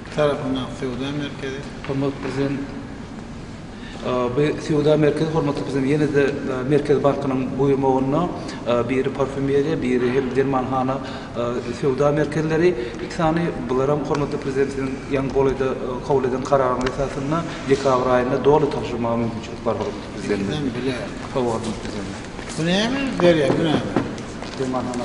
Iki tarapynyň söwda merkezi. Hormatly Prezident, bu söwda merkezi, hormatly Prezident, ýene-de Merkez bankynyň buýrmagynda biri parfýumeriýa, biri hem dermanhana söwda merkezleri, iki sany, bularam, hormatly Prezident, siziň ýaňy golaýda kabul eden kararyňyz esasynda dekabr aýynda doly tabşyrmaga mümkinçilik bar, hormatly Prezident. Ikisem bile. Hawa, hormatly Prezident. Bu näme berýär, bu näme? Dermanhana.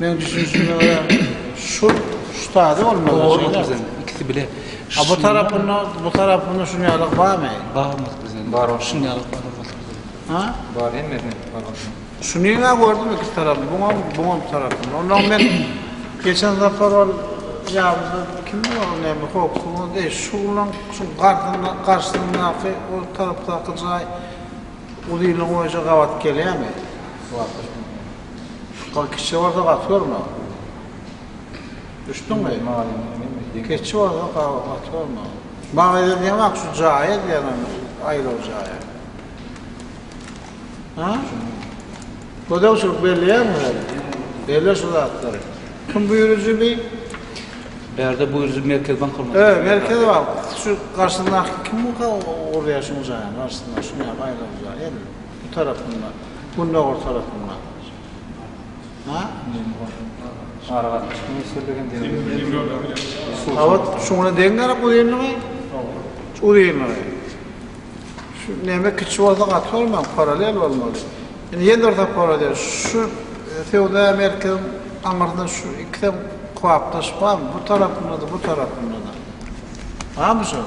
Meň düşünişime görä şul ştada bolmaly. Dogry bolupdyr bizen ikisi bile. A bu tarapynda bu tarapynda şun ýalyk barmy? Bar bolupdyr bizen. Bar bolupdyr. Şun ýalyk bar bolupdyr bizen. Ha? Bar hemmesine bar bolupdyr. Şunyňa gördüm ikisi tarapy buňam buňam tarapyny. Ondan men geçen sapar ol ýabysy kimdi ol näme hoksuň deý şulan şu garsyna garşysyndaky o tarapdaky jaý uzyny goýja gabat gelýärmi? Wagtlaşmagy. Çykar kiçi bolsa gaty görme. Düşdüňmi? Kiçi bolsa gaty görme. Maňa ýördüň bak şu jaýa diýenem aýlaw jaýa. Ha? Gödew şu belleýärmi sen? Belle şu zatlary. Kim buýrujy bi? Bärde buýrujy Merkez bank bolmaly. Ö, Merkez bank. Şu garşyndaky kim bu urýar şuň jaýyň garşysynda? Şuň ýa aýlaw jaýa. Bu tarapynda, gündogar tarapynda. Ha? Aragatnaşyk ministrligi hem diýýär. Gabat şu güne deň gerek uzynlygy. Şu uzynlygy. Şu näme kiçi bolsa gaty bolmaly, parallel bolmaly. Indi ýene bir zat bolar diýär. Şu söwda merkeziň aňyrynda şu ikisem kybapdaş barmy? Bu tarapynda-da, bu tarapynda-da. Barmy şol?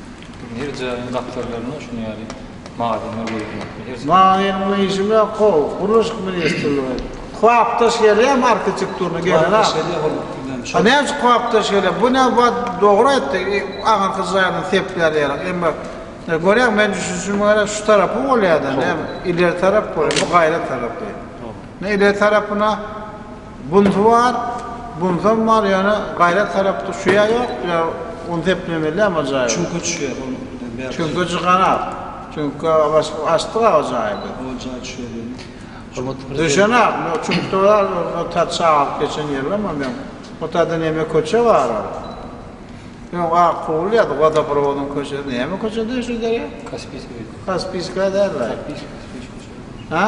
Her jaýyň gapdallarynda şuny ýaly magazynlar goýulmaly. Magazyn bilen işim ýok how, gurluşyk ministrligi. Kwapdaş gelýär marketikturna gelen a. A näme üçin kwapdaş gelýär? Bu näme wad dogry aýtdy. Aňyrky jaýyny sepler ýaly. Emma görýäňmi men düşünişime görä şu tarapy bolýada näme ileri tarap bolýa bu gaýra tarapy. Näme ileri tarapyna Bunsy bar, bunsam bar, ýöne gaýrat sarap düşýä ýok, ýa un seplemelýämi o jaýy? Çüňke düşýä ol birden bärde. Çüňke cykanok. Çüňke açdyk a o jaýy biz. O jaý düşýä diýeni. Hormatly Prezident. Düşenok, o çüňkde bar, o tä çagyryp geçen ýerlem o meň. O täde neme köçe bar ol. Öň ak pugul ýady, wodoprowodyň köçesi, neme köçe diýer şu derýa? Kaspiýska köçe. Kaspiýska däl-le. Kaspiýska, Kaspiýska köçe. Hä?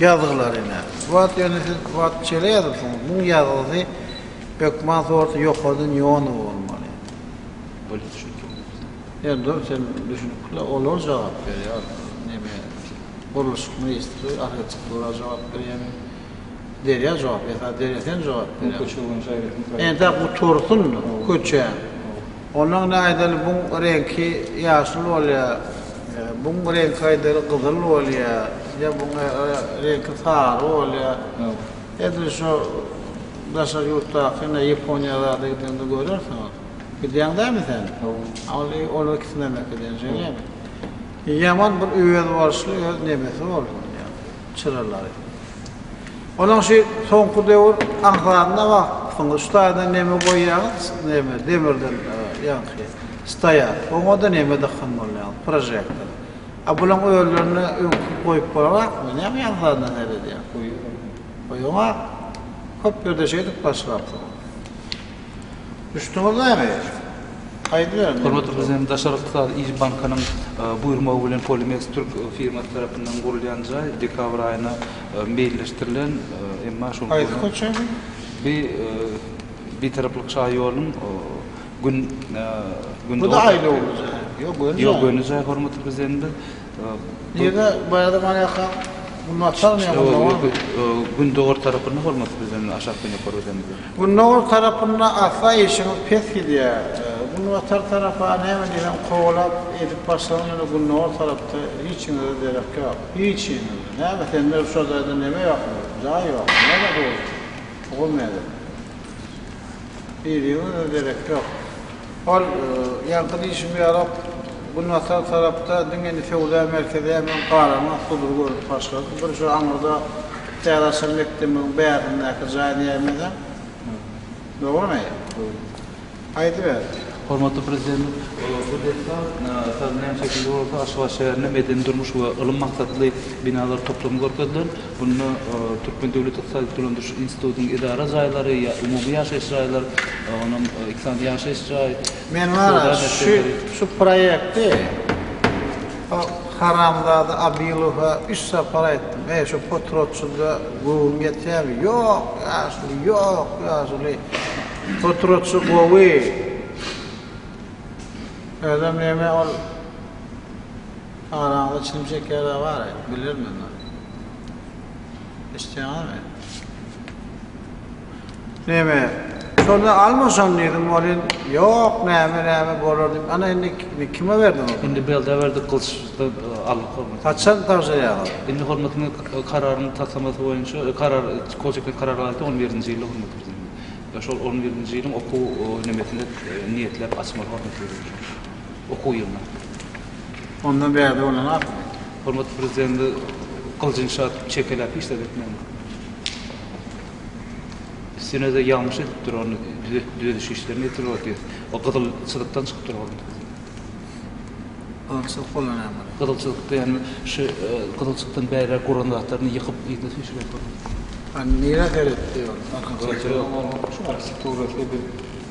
Ýazgylar ine. Wat ýöne siz wat şeýle ýazypsyňyz. Muň ýazgysy hökman sorty ýokardan ýonuň bolmaly. Bolýa düşündim özüm. Ýöne dur sen düşünikli olar jogap berýär neme gurluşyk ministri arhitektura jogap berýärmi derýa jogap esasy derýa sen jogap berýär. Entä gutursyn köçä. Onuň aýdaly buň reňki ýaşyl bolýar, buň reňki aýdaly gyzyl bolýar, ýa buň reňki sary bolýar. Edil şo daşary ýurtdaky ine Ýaponiýa zada gideňde görersiňiz. Gidýäň dämi sen? Ol olar ikisine mek edýän şeýlemi? Ýaman bir özboluşly öz nemesi bolsun ýa. çyralary. Onuň şu soňky döwür aňsatynda wagtyň şu taýdan neme goýýaňyz, neme, demirden ýaňky stoýar. Oňa da neme dykgyn bolýaňyz, prožektor. A bulaň özlerine öňki goýup bolanakmy, näme ýaňsatynda seredýäň? Goýaňok. Köp ýerde şeýdip başlapsyňyz. Hormatly Prezidentimiz Daşary ykdysady yz bankynyň buýurmagy bilen Polimeks türk firmasy tarapyndan gurulýan jaý dekabr aýyna meýilleşdirilen, emma şol gün bi Bitaraplyk şaýolunyň gün, gün, ýok, göni jaý, hormatly Prezidentimiz Nirde baýadam alýarkaň bu naçalny ýa munda barmy. Gündogar tarapynda hormatly prezidentimiz aşakdan ýokary gidende. Gündogar tarapynda asla işiňiz pes gidýär. Günbatar tarapa näme diýseň kowalap edip başlaň ýöne gündogar tarapda hiçiňize derek ýok. Hiçiňize. Näme sende şu jaýda neme ýokmy? Jaý ýokmy? Näme dogry? Ogul nädip? Biriňize derek ýok. Ol, Ýaňky diýşim ýaly, günbatar tarapda diňe indi söwda merkezi hem garaňa sudur görünip başlady. Bir şu aňyrda täze açan mekdebimiziň bärdindäki jaý nämedeň? Dogrumy? Aýdyber. Hormatly Prezidentimiz bu desga saz bilen çekildi bolsa, Aşgabat şäherinde medeni-durmuş we ylym maksatly binalar toplumy görkeziler. Bunda Türkmen döwlet ykdysady dolandyryş institutynyň edara jaýlary, umumy ýaşaýyş jaýlar, onam iki sany ýaşaýyş jaý, Men wara şu proýekti o haramzada Abylowa üç sapar aýtdym. Eý, şu potrotçyda göwün ýetýärmi? Ýok, ýaşuly, ýok, ýaşuly. Potrotçy gowy. Özem näme ol. Araňyzda çilim çekýärler bary, bilirim men ony. Eşitýäňizmi? Näme, şonda almaşan diýdim welin, ýok, näme, näme, bolar diýip, ana indi kime berdiň ony? Indi Belda berdik, Gylyçdan aldyk hormatyny. Haçan tabşyrýaňyz? Indi hormatyny kararyň taslamasy boýunça, karar, kol çekmek karary bardy, on birinji ýylda hormat biziň. Şol on birinji ýylyň okuw nemesinde niýetläp açmaly hormaty biziň şol. okuw ýylyna. Ondan bärde bolan ahyryn. Hormatly Prezidenti gylyjyny çatyp çekeläp işler etmegin. Üstünede ýalňyş edipdir ony düzediş işlerini etdir ol diýip. O gyzyl çyzykdan çykyp dur hormatly Prezident. Gyzyl çyzyk bolan näme ol? Gyzyl çyzyk diýen şu gyzyl çykdan bäri guran zatlaryny ýykyp yzyna süýşürýär hormatly Prezident. Nirä seretdi ol? Arkaçäkde. Şu arkitektura şeýle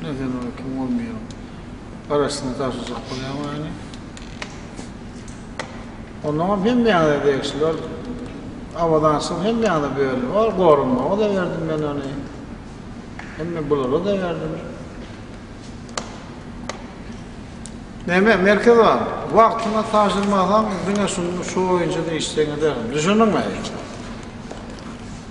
Ine sen oňa kim bolmaýaň. Garaşsyna tabşyrjak bolýaň ony. Onnoňam hemmäňize degişli ol abadançylyk hemmäňize bölündi. Ol goranmaga-da berdim men ony. Hemme bulara-da berdim. Näme, Merkez aga, wagtyna tabşyrmasaň diňe şuny şu boýunça-da işjeňiderin. Düşündiňmi?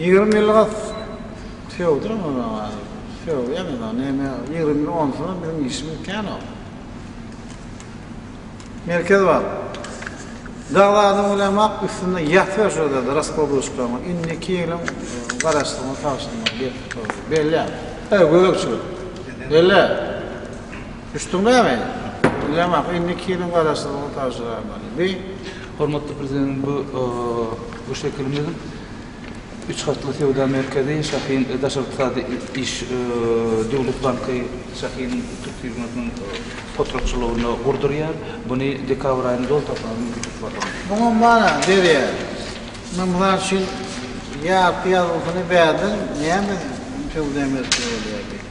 Ýigrimi ýyllyga sögdüň ony aýy. Sögýän ýaly näme ýigrimi ýyl onsuzam biziň işimiz känok. Merkez bar. Dag zadyň bilen wak üstünde ýatyber şol zada raskladuşkaňy. Indiki ýylyň garaşsyňyz tagşyryma gelip tutarys. Bellä. Öý göbekçilik. Bellä. Düşdüň näme? Bilýän ahyryn indi iki ýylyň garaşsyzlygyny tabşyrarmany. Bi. Hormatly Prezidentimiz bu bu şekilimiz üç gatly söwda merkezi şahin daşary ykdysady iş Döwlet banky şahin türk firmasynyň potratçylygynda gurdurýar. Buny dekabr aýynda doly tapmaga mümkinçilik bar hormatly. Muňa mana berýär. Men mysal üçin ýarpy ýazgysyny bärden näme söwda merkezi bolýar diýip.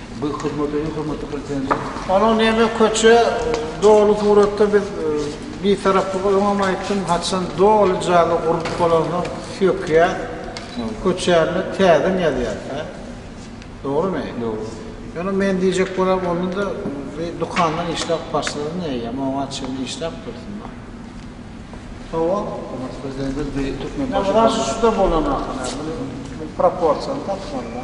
Bu hyzmat öýi hormatly Prezidentimiz. Onuň näme köçe doly suratda biz bitaraplyk öňem aýtdym haçan doly jaýlar gurulyp bolansoň sökýär köçäni täzeden ýazýar hä dogrymy? Dogry. Ýöne men diýjek bolam onda da bir dukandan işläp başlasaň eýýäm oňa çenli işläp dursun da. Hawa hormatly Prezidentimiz bir türkmenbaşy. Ýa şu şu da bolanok hä muny proporsiýany tapmaly da.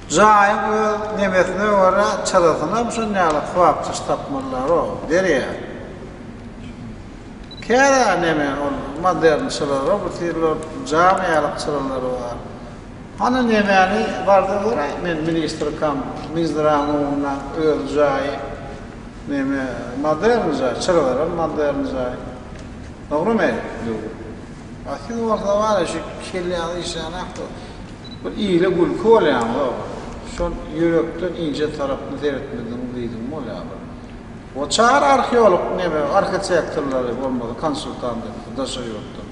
Jaýyň öz nemesine görä çyrasynam şon ýaly kybapçyş tapmazlar-ow, derýa. Kära neme ol modern çyralar, obutyrlar, jam ýalyk çyralary bar. Hany nemäni barda göräý, men ministrkam, minzdraň öňünde öz jaýy neme modern jaý, çyralaram modern jaý. Dogrumy? Dogry. A siz bolsa bary şu kelläňizi işlänokda bir ile gülki bolýaňyza şol ýürekden inje tarapyny seretmediňiz diýdiň bolýa bir o çar arheolog neme arhitektorlary bolmasa konsultant etsin daşary ýurtdan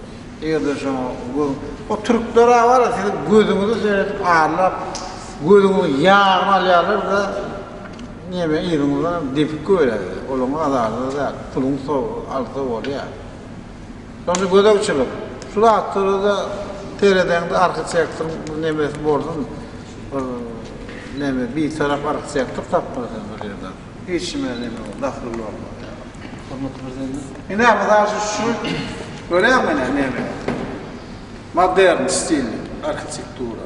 eger-de şoňa göz o türkler-ä bary siziň gözüňizi seredip arlap gözüňiziň ýagyny alýarlar-da neme yzyňyzdan depip goýýarlar olaň azarda däl puluň so alsa bolýa. Şonda gözegçilik, Şu zatlara-da seredeňde arhitektoryň bir nemesi bolsun, bir neme, bitarap arhitektor tapmaly sen bir ýerden. Hiç nime neme bol, dahly bolma. Hormatly Prezidentimiz. Ine, mysal üçin, şu, görýäňmi ine, neme, modern stilli arhitektura.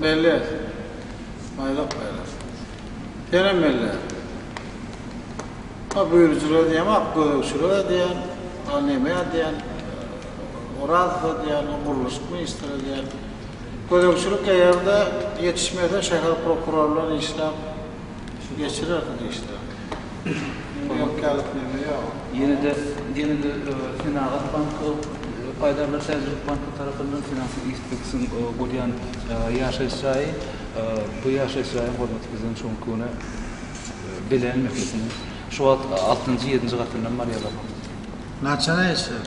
Melles, Maýlak maýlak. Senem melles. A Büýrüjilere diýýän, ak gözegçilere diýýän, a nemä diýýän, Orazowa diýýän, a gurluşyk ministre diýýän. Gözegçilik eger-de ýetişmese şäher prokuror bilen işläp geçirersiň işlerini. Ýene-de ýene-de Senagat banky, Paýdarlar täjirlik banky tarapyndan Finansiýa Ispeksiň gurýan ýaşaýyş jaýy. Bu ýaşaýyş jaýyň hormaty bizden şu günki güne bile meselesiniň şu wagt altynjy, ýedinji gatyndan barýarlar hormaty. Naçara ýaşaýar?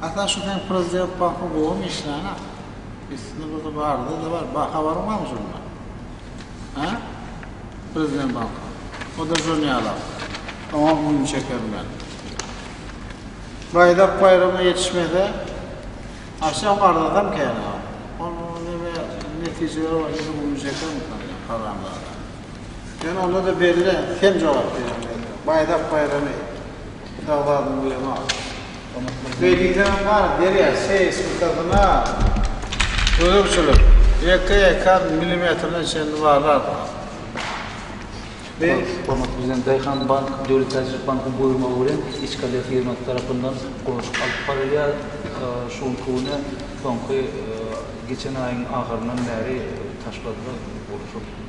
Hasan şu seň prezident baky gowumy işlänä. Üstüni buzup arzyda bar ba habaryň barmy şondan. Hä? Prezident banky. Oda jon ýalak. Oňam gün çekerin men. Baýdak baýrama ýetişmese aşam arzasam kän ha. Ol neme netijeleri bar ýene gün çekermikan ýa haramzada. Ýöne onda-da belle, sen jogap berýäň özüňe. Baýdak baýramy Şahzada Gulema. Beý diýseňem bar, derýa, seýis gyssasyna gözegçilik, ýeke ekan milimetrine çenli bazar. Beý. Hormatly Prezident, Daýhan bank Döwlet täjirçilik bankynyň buýurmagy bilen Ichkale firmasy tarapyndan gurluşyk alyp barylýar. Şu günki güne, soňky, geçen aýyň ahyryndan bäri taşlady-da gurluşyk.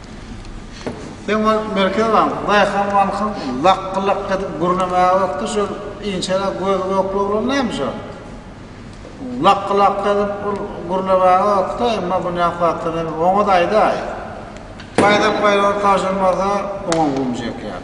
Sen ol Merkezi bank, daýhan bankyň lakgy-lakgy edip gürlemäge wagty şol inçeräk gözi gök oglan näme şo? Lakgy-lakgy edip ol gürlemäge wagty, emma bu näme wagtdan hem oňat aýdaý. Baýdak baýramy tabşyrmasa oňa gum çekýär.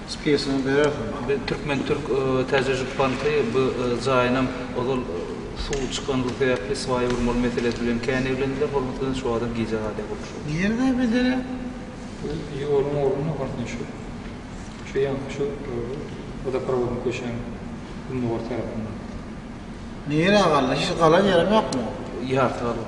Spesini berersiň. Biz Türkmen Türk Täze Jüp Banky bu jaýynam ozal suw çykanlygy sebäpli swaýa urmaly meselesi bilen kän eglendiler, hol meselem şu adam gijä galýar gurluşygy. Nirede bejerýär? Bu ýoluň ornunda garsynda şu. Şu ýaňky şu wodoprowodyň köşäň gündogar tarapynda. Nirä galdy? Hiç galan ýerem ýokmy? Ýarty galan.